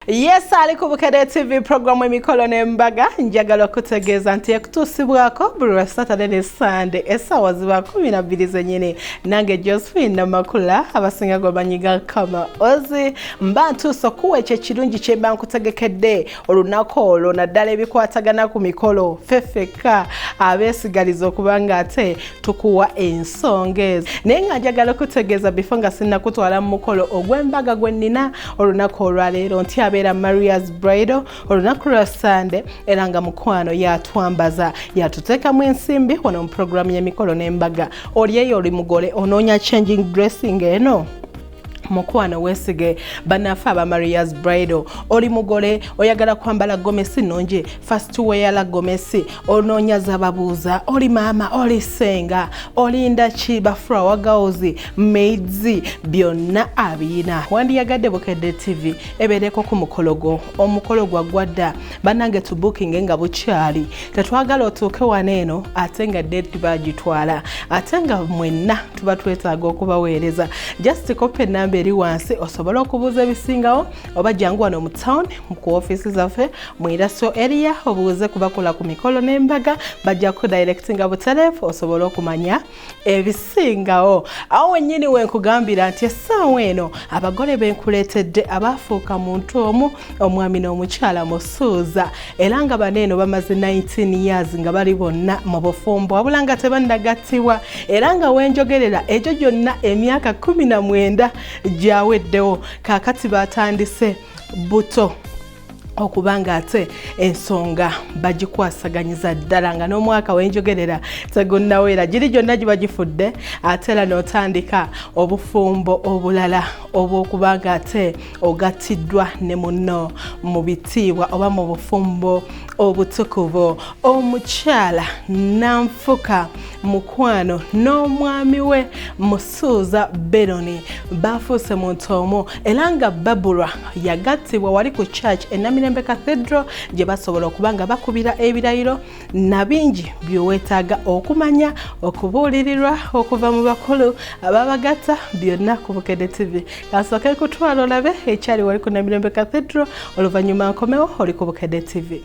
Yes ali ku Bukedde TV programu emikolo n'embaga njagala okutegeeza nti ekutuusibwako buli lwa Saturday ne Sunday essaawa ziba kumi na bbiri zennyini nange Josephine Namakula abasinga gwe banyiga kama ozi mba ntuuse okuwa ekyo ekirungi kye mba nkutegekedde olunaku olwo naddala ebikwatagana ku mikolo fefekka abeesigaliza okubanga ate tukuwa ensonga ezo naye nga njagala okutegeeza bifo nga sinnakutwala mu mukolo ogw'embaga gwe nnina olunaku olwaleero nti abeera marias bridal olunaku lwa sande era nga mukwano yatwambaza yatuteekamu ensimbi wano mu puroguramu y'emikolo n'embaga oli eyo oli mugole onoonya changing dressing eno mukwano wesige banafe aba marias bridal oli mugole oyagala kwambala gomesi nungi fast weyala gomesi onoonya zababuuza oli maama oli senga olinda ki bafura wagaozi maids byonna abiyina wandiyagadde bukedde tv ebeereko ku mukolo gwo omukolo gwaggwadda banange tubukinge nga bukyali tetwagala otuuke wano eno ate nga date bagitwala ate nga mwenna tuba twetaaga okubaweereza just kopa enamba eri wansi osobole okubuuza ebisingawo oba jangu wano mu town ku ofiisi zaffe mu iraso eriya obuuze kubakola ku mikolo n'embaga bajja kudirectinga butereefu osobole okumanya ebisingawo awo wennyini wenkugambira nti essaawa eno abagole benkuleetedde abaafuuka muntu omu omwami n'omukyala musuuza era nga bano eno bamaze 19 years nga bali bonna mu bufumbo wabula nga tebannagattibwa era nga wenjogerera egyo gyonna emyaka 19 gyaweddewo kaakati baatandise buto okuba nga ate ensonga bagikwasaganyiza ddala nga n'omwaka wenjogerera tegunnaweera giri gyonna giba gifudde ate era n'otandika obufumbo obulala obw'okuba nga ate ogattiddwa ne muno mu bitiibwa oba mu bufumbo obutukuvu omukyala nanfuka mukwano n'omwami we suuza beroni baafuuse muntu omu era nga babulwa yagattibwa wali ku church enamirembe cathedral gye basobola okuba nga bakubira ebirayiro na bingi byeweetaaga okumanya okubuulirirwa okuva mu bakulu ababagatta byonna ku bukede tv kasooke kutwala olabe ekyali wali ku namirembe cathedral oluvannyuma nkomewo oli ku bukede tv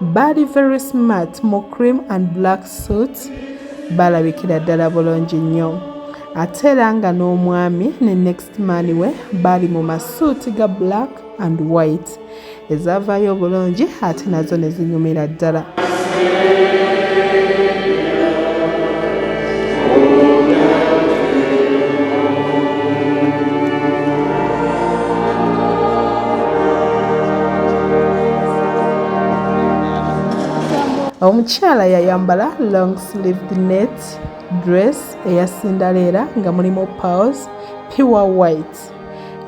Baali very smart mu cream and black suit balabikira ddala bulungi nnyo. Ate era nga n'omwami ne next man we baali mu masuuti ga black and white ezaavaayo obulungi ate nazo ne zinyumira ddala. omukyala yayambala long sleeved net dress eya sindaleera nga mulimu pals pure white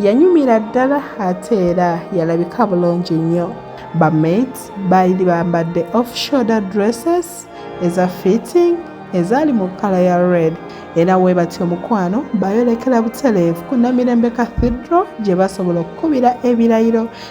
yanyumira ddala ate era yalabika bulungi nnyo bamait baali bambadde off shoulder dresses eza fitting ezaali mu kkala ya red era we batya omukwano bayolekera butereevu ku namirembe cathedral gye basobola okukubira ebirayiro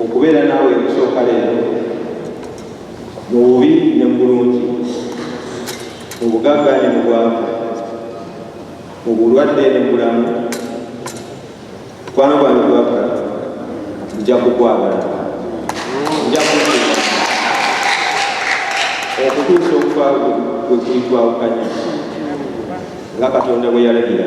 okubeera naawe ekusooka leero mu bubi ne mu bulungi mu bugagga ne mu bwavu mu bulwadde ne mu bulamu mukwano gwange gwaka nja kukwagala nja kukuba okutuusa okufa bwe kulitwawukanya nga katonda bwe yalagira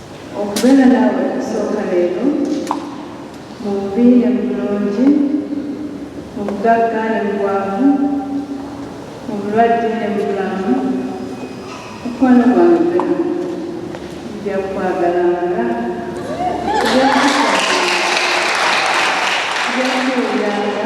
Okubeera naawe okusooka leero, mu bubi ne mu bulungi, mu bugagga ne mu bwavu, mu bulwadde ne mu bulamu, mukwano gwange Bernard, nja kukwagalanga, nja kukusaasiranga, nja kukuwuliranga.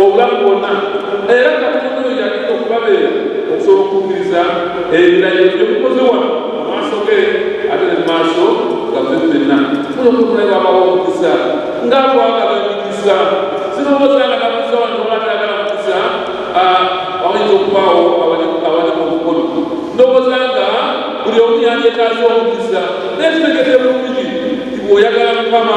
obulamu bwonna era nga tukunuuyaki okubabeera okusobola okukkiriza ebirayiro byemukoze wano mu maaso ge ate ne mu maaso gaffe ffenna kuno kunaye babawa omukisa nga twagala emikisa sirowooza nga nabuza wano obatagala mukisa abayinza okubaawo abali mu bukulu ndowooza nga buli omu yandetaaza omukisa naye tutegedde bulungi nti bweoyagala mukama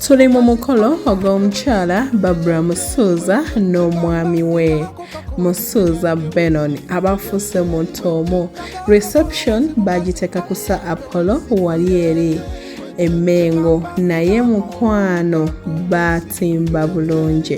tuli mu mukolo ogw'omukyala babra musuuza n'omwami we musuuza benon abafuuse omuntu omu reception bagiteeka ku sa apollo wali eri emengo naye mukwano baatimba bulungi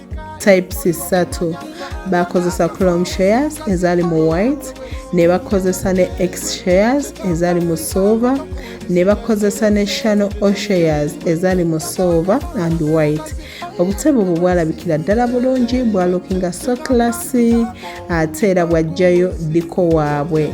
types ssatu bakozesa chrome shares ezali mu white ne bakozesa ne x shares ezali mu silver ne bakozesa ne shano o shares ezali mu silver and white obutebe obwo bwalabikira ddala bulungi bwalukinga so classy ate era bwajjayo ddiko waabwe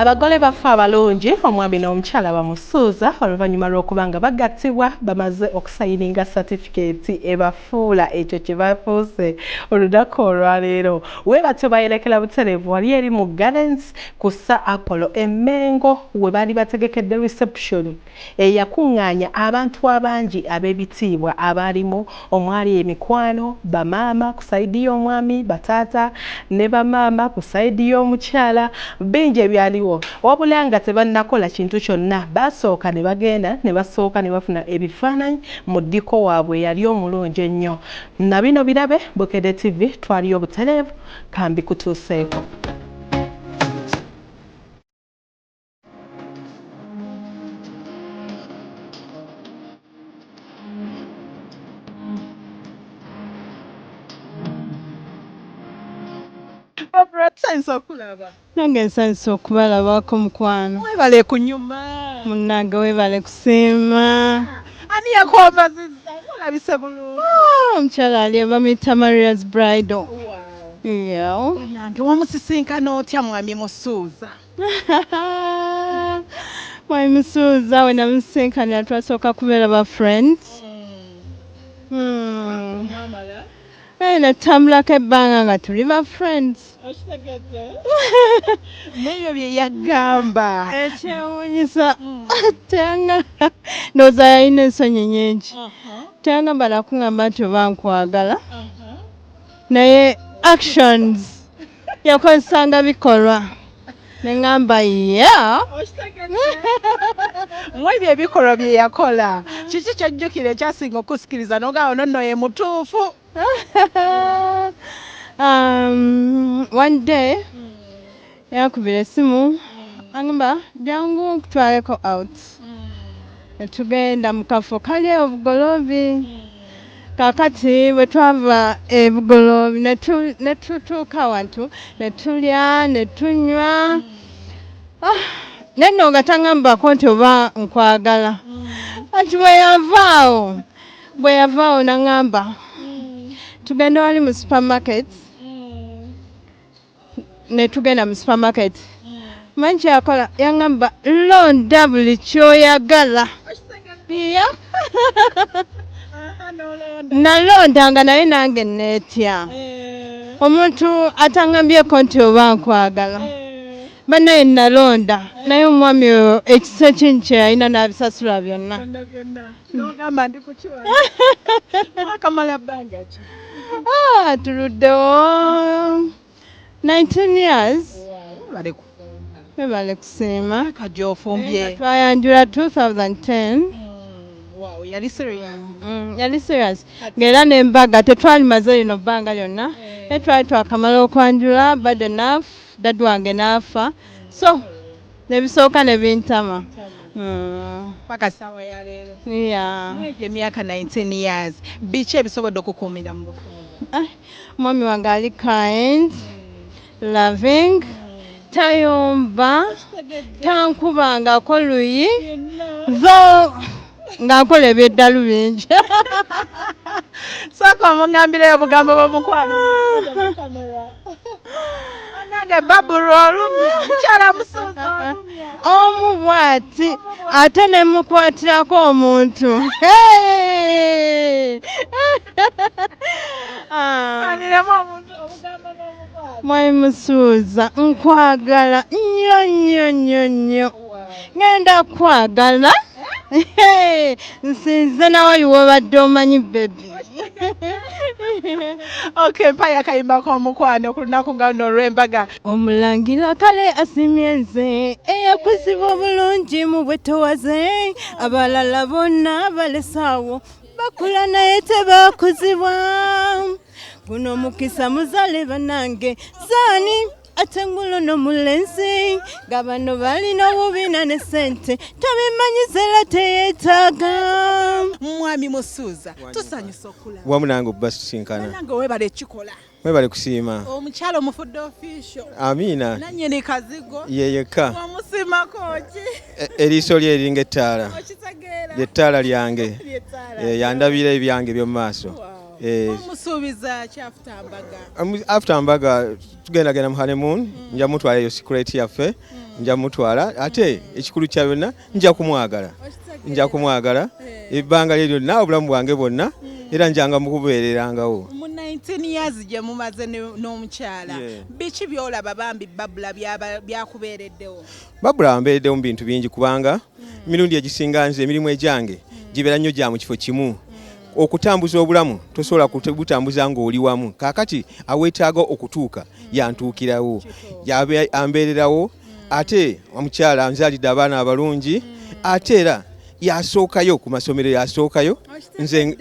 abagole baffe abalungi omwami n'omukyala bamusuuza oluvannyuma lw'okuba nga bagattibwa bamaze okusayininga satifikeeti ebafa Fuula ekyo kye bafuuse olunaku olwaleero. Bwe batyo baayolekera butereevu wali eri mu Gardens ku Sir Apollo e Mmengo we baali bategekedde risepusyoni eyakuŋŋaanya abantu abangi ab'ebitiibwa abaalimu omwali emikwano, bamaama ku sayidi y'omwami, bataata ne bamaama ku sayidi y'omukyala bingi ebyaliwo wabula nga tebannakola kintu kyonna baasooka ne bagenda ne basooka ne bafuna ebifaananyi Mu ddiko waabwe yali omulungi ennyo. Na bino birabe, Bukedde TV twaliyo butereevu, ka mbikutuuseeko. Barbara tayinza kulaba. Nange nsanyuse okubalabako mukwano. Webale kunyuma munange webale kusiima ani yakwavaziza olabise bulungi. Ooh omukyala ali bamuyita Maria's bridal yeah. Banange wamusisinkana otya mwami musuuza. Mwami musuuza wenamusisinkanira twasooka kubeera ba friends. Eh, ne tutambulako ebbanga nga tuli ba friends okitegedde nebyo bye yagamba ekyewunyisa mm. teyanga ndowooza yalina ensonyi nyingi uh-huh. teyangamba nakungamba nti oba nkwagala uh-huh. naye actions yakozesanga bikolwa ne ŋŋamba ya mu ebyo ebikolwa bye yakola kiki kyojjukira ekyasinga okusikiriza nogamba ono nno ye mutuufu um, one day yakubira esimu angamba jangu nkutwaleko out mm. netugenda mu kafo kali obugoloobi mm. Kaakati bwe twava e Bugulo ne tutuuka wantu ne tulya ne tunywa ah, naye nno nga tangambako nti oba nkwagala anti bwe yavaawo bwe yavaawo nangamba tugende wali mu supermarket netugenda mu supermarket manyi kyakola yangamba londa buli kyoyagala iya nalonda nga naye nange netya eh. omuntu atangambyeko nti oba nkwagala eh. banaye nalonda naye omwami oyo ekisa ekingi kyeyalina nabisasula byonna Nogamba ndi kuki wano? Akamala bbanga ki? Ah, tuluddewo 19 years. Baleko. Webale kusiima. Kajja ofumbye. Twayanjula 2010. Mm, wow, yali serious. Mm, yali serious. Ng'era n'embaga tetwalimaze lino bbanga lyonna. Eh. Naye twali twakamala okwanjula bad enough dad wange n'afa. So Nebisooka nebintama paka sawa ya leero mwegyo emyaka 19 years biki ebisobodde okukuumira mu bufumbo? Mwami wange ali kind, loving, tayomba, tankubangako luyi, though. nga nkola ebyeddalu bingi sooka omuŋambireyo obugambo bwomukwano nange babulu olumya mukyala musuuza olumya omu bwati ate ne mukwatirako omuntu mwai musuuza nkwagala nnyo nnyo nnyo nnyo ŋŋenda kwagala nsinze nawe iwobadde omanyi bebi ok mpayo akayimba k'omukwano ku lunaku nga luno olw'embaga omulangira kale asimye nze eyakuziba obulungi mu bwetowaze abalala bonna balesaawo bakula naye tebakuzibwa guno mukisa muzale banange zani ate ngulo no mulenzi nga bano balina obubina ne sente tabimanyiza era teyetaaga mwami musuuza tusanyusa okulaba wamu nange okuba tusinkana nange webale ekikola mwebale kusiima omukyalo omufudde ofisho amiina nanyini kazigo yeyekka omusimako ki e, eriiso lye eringa ettaala lyettaala lyange e, yandabira ebyange ebyomumaaso e. after mbaga tugenda genda mu honeymoon mm. nja mutwala eyo secret yaffe mm. nja mutwala ate ekikulu kya byonna nja kumwagala nja kumwagala eh. ebbanga lye lyonna obulamu bwange bwonna mm. era njanga mukubeererangawo mu 19 years gye mumaze n'omukyala biki byolaba bambi babula byakubeereddewo babula wambeereddewo mu bintu bingi kubanga emirundi egisinga nze emirimu egyange gibera nnyo gya mu kifo kimu okutambuza obulamu tosobola kubutambuza ng'oli wamu kaakati aweetaaga okutuuka yantuukirawo ambeererawo ate omukyala nzalidde abaana abalungi ate era yasookayo ku masomero yasookayo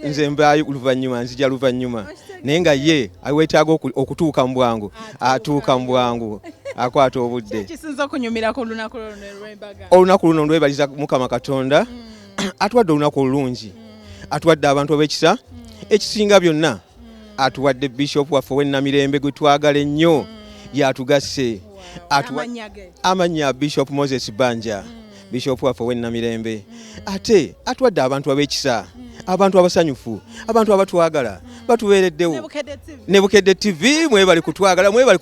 nze mbaayo luvannyuma nzija luvannyuma naye nga ye aweetaaga okutuuka mu bwangu atuuka mu bwangu akwata obudde olunaku luno lwebaliza mukama katonda mm. atuwadde olunaku olulungi atuwadde abantu ab'ekisa ekisinga byonna atuwadde bishop waffe owenamirembe gwe twagala ennyo yatugasse amannya bishop moses banja bishop waffe owenamirembe ate atuwadde abantu ab'ekisa abantu abasanyufu abantu abatwagala batubeereddewo ne bukedde tv mwebali kutwagala mwebali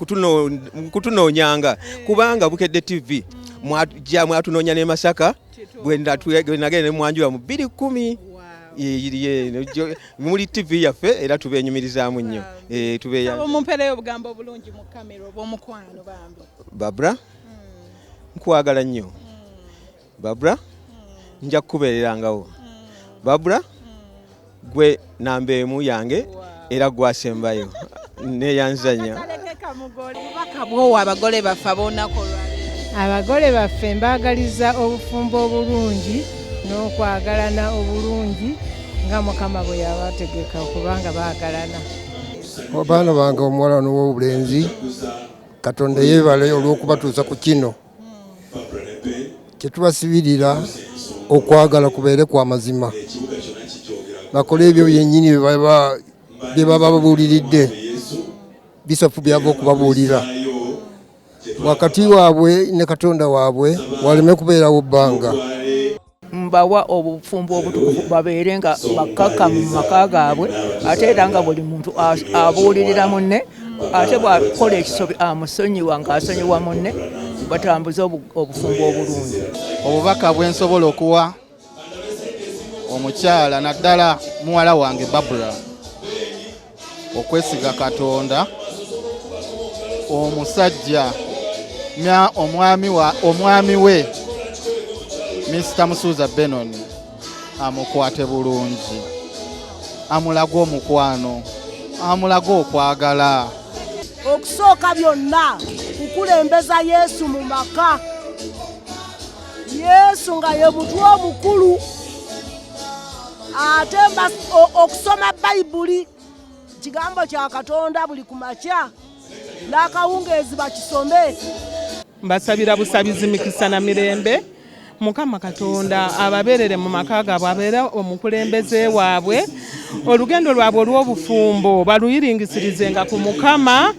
kutunoonyanga kubanga bukedde tv mwatunoonya ne masaka bwenagenda ne mwanjula mu bbiri kkumi muli ttivi yaffe era tubenyumirizaamu nnyo eh, tubeomumpeereyo obugambo obulungi mu kamera oba omukwano bambi babra hmm. nkwagala nnyo hmm. babra hmm. nja kukubeererangawo babra gwe namba emu yange era gwasembayo neyanzanya bwowa abagole baffe abonako abagole baffe mbagaliza obufumbo obulungi n'okwagalana obulungi nga mukama bwe yabategeka okubanga bagalana abaana bange omuwala n'ow'obulenzi katonda yeebale olw'okubatuusa ku kino kyetubasibirira okwagala kubeere kwa mazima bakole ebyo byenyini byebaba babuuliridde bisofu byava okubabuulira wakati waabwe ne katonda waabwe waleme kubeerawo bbanga mbawa obufumbo obutukuvu babeere nga bakkakkamu mu maka gaabwe ate era nga buli muntu abuulirira munne ate bw'akola ekisobi amusonyiwa ng'asonyiwa munne batambuze obufumbo obulungi obubaka bwe nsobola okuwa omukyala naddala muwala wange babula okwesiga katonda omusajja mya omwami wa omwami we Mr Musuuza Benon amukwate bulungi amulage omukwano amulage okwagala okusooka byonna kukulembeza Yesu mu maka Yesu nga ye mutwe omukulu ate okusoma bayibuli kigambo kya katonda buli ku makya n'akawungeezi bakisome mbasabira busabizi mikisa na mirembe mukama katonda ababeerere mu maka gaabwe abeere omukulembeze waabwe olugendo lwabwe olw'obufumbo baluyiringisirizenga ku mukama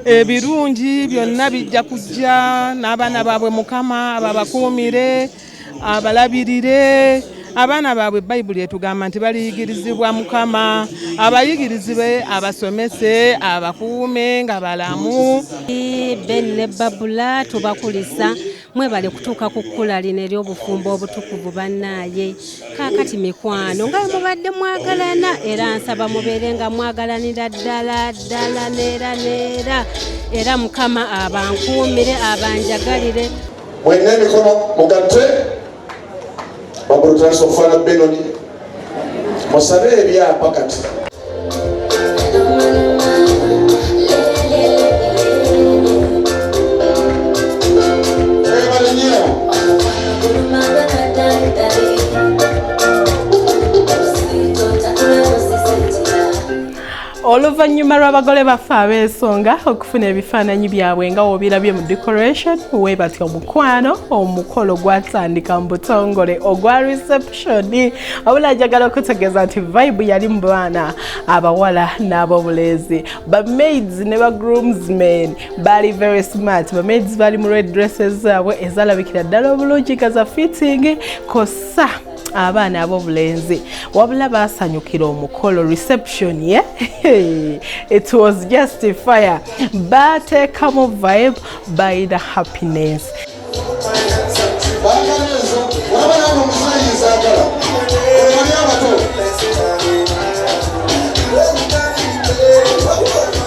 ebirungi byonna bijja kujja n'abaana baabwe mukama babakuumire abalabirire abaana baabwe bayibuli etugamba nti baliyigirizibwa mukama abayigirizibe abasomese abakuume nga balamu ben ne babula tubakulisa mwebale kutuuka ku kkula lino ery'obufumbo obutukuvu bannaaye kaakati mikwano nga mubadde mwagalana era nsaba mubeere nga mwagalanira ddala ddala neera neera era mukama abankuumire abanjagalire mwena emikono mugatte wagulu tulasa okufaana benoni musabe ebyapa kati oluvannyuma lw'abagole baffe ab'ensonga okufuna ebifaananyi byabwe nga wobirabye mu decoration webatya omukwano omukolo gwatandika mu butongole ogwa reception abula njagala okutegeeza nti vibe yali mu baana abawala n'abobulenzi bamaids ne ba groomsmen baali very smart bamaids baali mu red dresses zaabwe ezalabikira ddala obulungi nga za fitting kosa abaana abobulenzi wabula baasanyukira omukolo reception ye yeah? it was just fire baateekamu vibe bayina happiness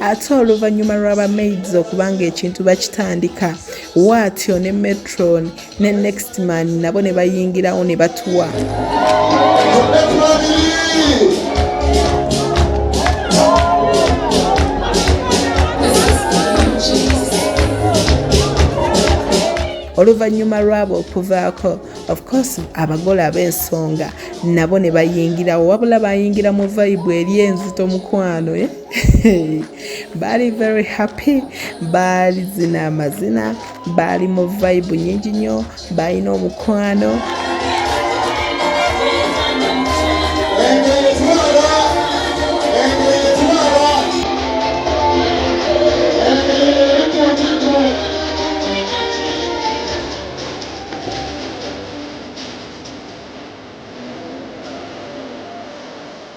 ate oluvannyuma lwa bamaids okuba ng'ekintu bakitandika waatyo ne metron ne next man nabo ne bayingirawo ne batuwa oluvannyuma lwabo okuvaako of course abagole ab'ensonga nabo ne bayingirawo wabula bayingira mu vayibu eri enzito mukwano eh? baali very happy baali zina amazina baali mu vibe nyingi nnyo baalina omukwano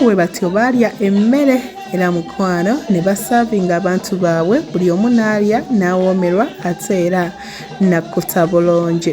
bwe batyo baalya emmere era mukwano ne basaavinga abantu baabwe buli omu n'alya n'awoomerwa ate era nakkuta bulungi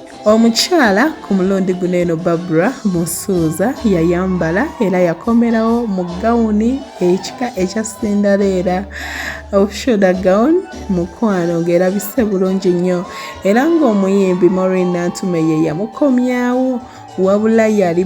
Omukyala ku mulundi guno eno Barbara Musuuza yayambala era yakomerawo mu gawuni ekika ekya Cinderella ofshoda gown mukwano ng'erabise bulungi nnyo era ng'omuyimbi Maureen Nantume ye yamukomyawo wabula yali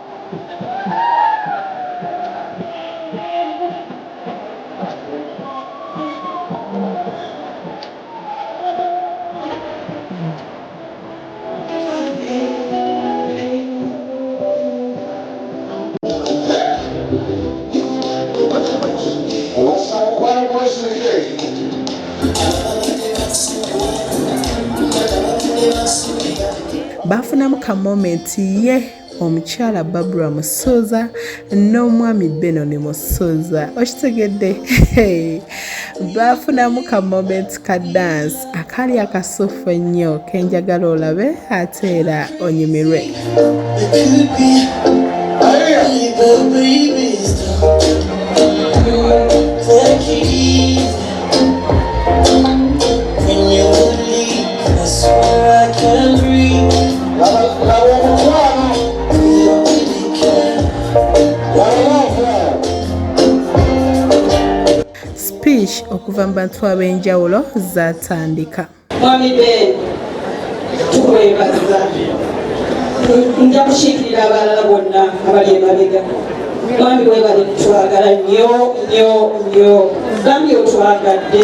baafunamu ka momenti ye omukyala babura musuuza n'omwami benoni musuuza okitegedde baafunamu ka momenti ka dansi akaali akasuufu ennyo kenjagala olabe ate era onyumirwe Thank you. okuva mu bantu ab'enjawulo zaatandika mwami ben tukwebazza nja kukiikirira abalala bonna abali emabega mwami webale twagala nyo nyo nyo gambye otwagadde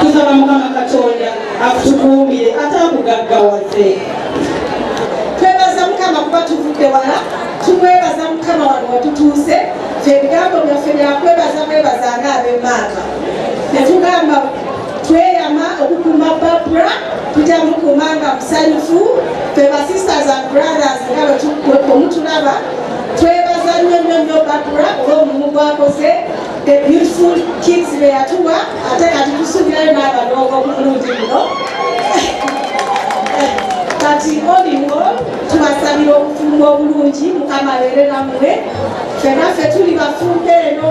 tusaba mukama katonda akutukuumire ate akugaggawaze twebaza mukama kuba tuvudde wala tumwebaza mukama wano watutuuse fye ebigambo byaffe byakwebaza mwebaza nga abemaaka netugamba tweyama okukuuma babra tujja mukuuma nga musanyufu fe ba sisters and brothers nga bwemutulaba twebaza nnyo nnyo nnyo babra olwomulimu gwakoze the beautiful kids beyatuwa ate kati tusuubirayo n'abalongo ku mulundi guno kati oliwo tubasabira obufumbo obulungi mukama leere namwe fenaffe tuli bafumbe eno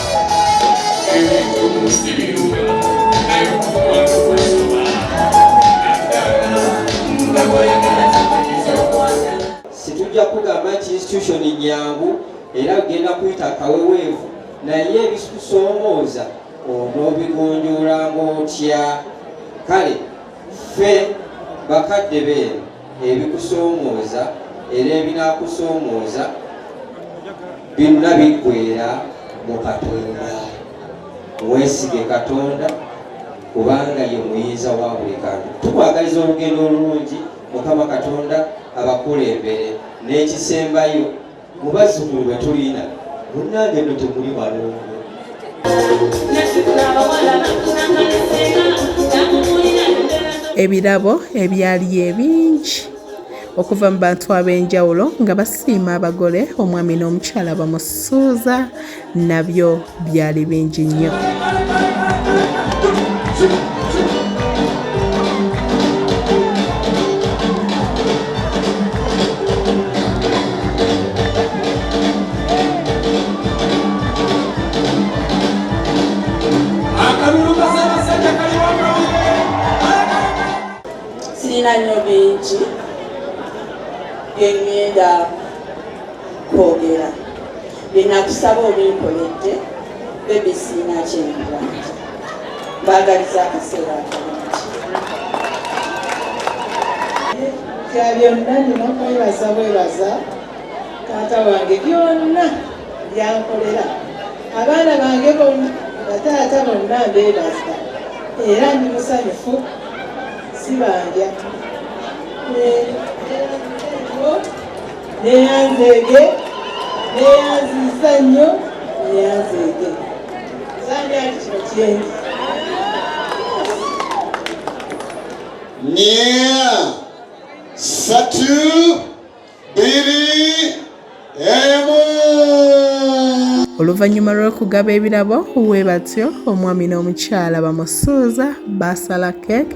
situjja kugamba nti institution nyangu era genda kuyita kaweweevu naye ebisikusoomooza onoobigonjoolanga otya kale ffe bakadde beeno ebikusoomooza era ebinaakusoomooza byonna biggwera mu katonda weesige katonda kubanga ye muyinza wa buli kantu tukwagaliza olugendo olulungi mukama katonda abakulembere n'ekisembayo Mu bazzukulu be tulina munnange nno temuli balongo. Ebirabo ebyali ebingi okuva mu bantu ab'enjawulo nga basiima abagole omwami n'omukyala bamusuuza nabyo byali bingi nnyo nnyo bingi bye ŋŋenda kwogera byenakusaba obinkoledde bebi siina kyenkuba nti mbagaliza akaseera akalungi bya byonna nina kwebaza bwebaza taata wange byonna byankolera abaana bange bonna bataata bonna mbebaza era ndi musanyufu sibanja neyanzeege neyanziisa nnyo neyanzeege sandi ali kino kyenzi nya satu biri emu oluvannyuma lw'okugaba ebirabo we batyo omwami n'omukyala bamusuuza baasala keeke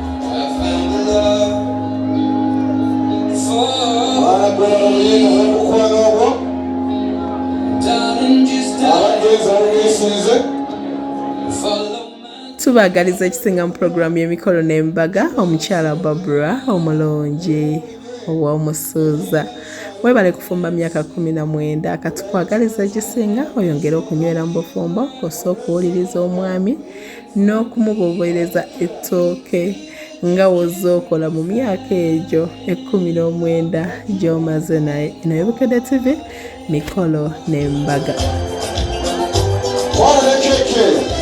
tubagaliza ekisinga mu pulogulaamu y'emikolo n'embaga omukyala babura omulungi ow'omusuuza webale kufumba myaka kumi na mwenda katukwagaliza ekisinga oyongere okunywera mu bufumbo kosa okuwuliriza omwami n'okumubobereza ettooke nga wozze okola mu myaka egyo ekkumi n'omwenda gy'omaze naye eno yebukedde tv mikolo n'embaga Thank you.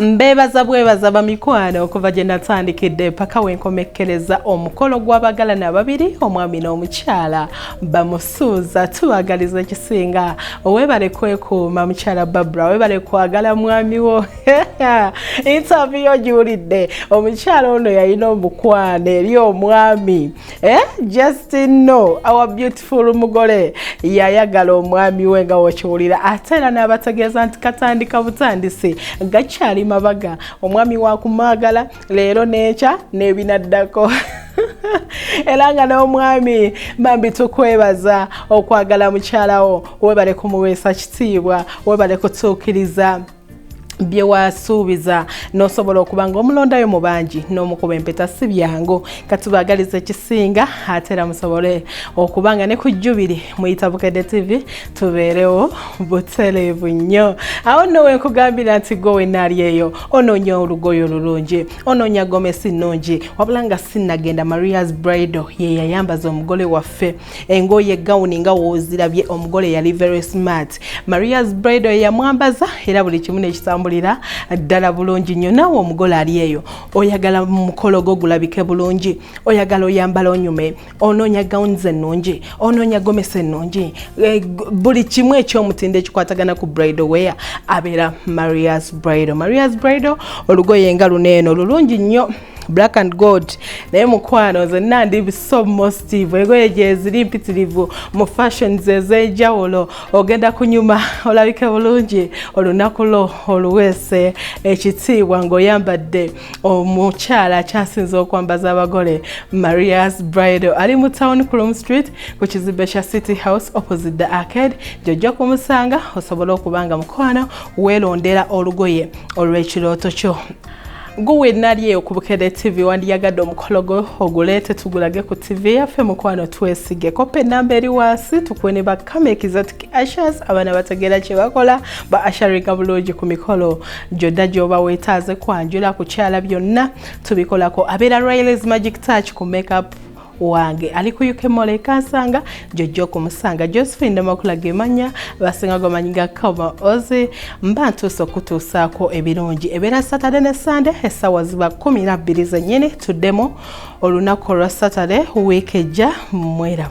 mbeebaza bwebaza bamikwano okuva gye natandikidde paka wenkomekkereza omukolo gw'abagalana ababiri omwami n'omukyala bamusuuza tubagaliza ekisinga owebale kwekuuma mukyala babra webale kwagala mwami wo intavi yo giwulidde omukyala ono yalina omukwano eri omwami eh, just no our beautiful mugole yayagala omwami we nga wokiwulira ate era n'abategeeza nti katandika butandisi gakyali mabaga omwami wakumwagala leero n'ekya n'ebinaddako era nga n'omwami bambi tukwebaza okwagala mukyalawo webale kumuweesa kitiibwa webale kutuukiriza bye wasuubiza n'osobola okuba ng'omulondayo mu bangi n'omukuba empeta si byangu katubaagaliza ekisinga ate era musobole okuba nga ne ku jjubiri muyita bukedde tv tubeerewo butereevu nnyo awo nno wenkugambira nti gwe wenaali eyo onoonya olugoyo olulungi onoonya gomesi nnungi wabula nga sinnagenda marias brido ye yayambaza omugole waffe engoye gawuni nga wozirabye omugole yali very smart marias bredo yamwambaza era buli kimu nekitambulira ddala bulungi nnyo naawe omugole ali eyo oyagala mukolo gwo gulabike bulungi oyagala oyambala onyume onoonya gawuni zennungi onoonya gomesa ennungi eh, buli kimu ekyomutindo ekikwatagana ku brido wea abeera marias brido marias brido olugoye nga luno eno lulungi nnyo black and gold naye mukwano zonna ndi so mostive egoye gyeziri mpitirivu mu fashions ez'enjawulo ogenda kunyuma olabike bulungi olunaku lwo oluweese ekitiibwa ng'oyambadde omukyala akyasinze okwambaza abagole marias bridal ali mu town crom street ku kizimbe kya city house opposite the arcade gyojja kumusanga osobole okuba nga mukwano weelondera olugoye olw'ekirooto kyo guwe nalyeyo ku bukede tv wandiyagadde omukolo gwe oguleete tugulage ku tv yaffe mukwano twesige kopa enamba eri wansi tukuwe ne bakama exotic ashas abaana bategeera kye bakola ba asharinga bulungi ku mikolo gyonna gyoba weetaaze kwanjula kukyala byonna tubikolako abeera riles magic touch ku makeup wange ali ku uk mole kansanga jojja okumusanga josephine namakula gemanya basinga gomanyi ga kama ozi mba ntuusa okutuusaako ebirungi ebeera saturday ne sunday essaawa ziba kumi nabbiri zennyini tuddemu olunaku olwa saturday wiiki ejja mweraba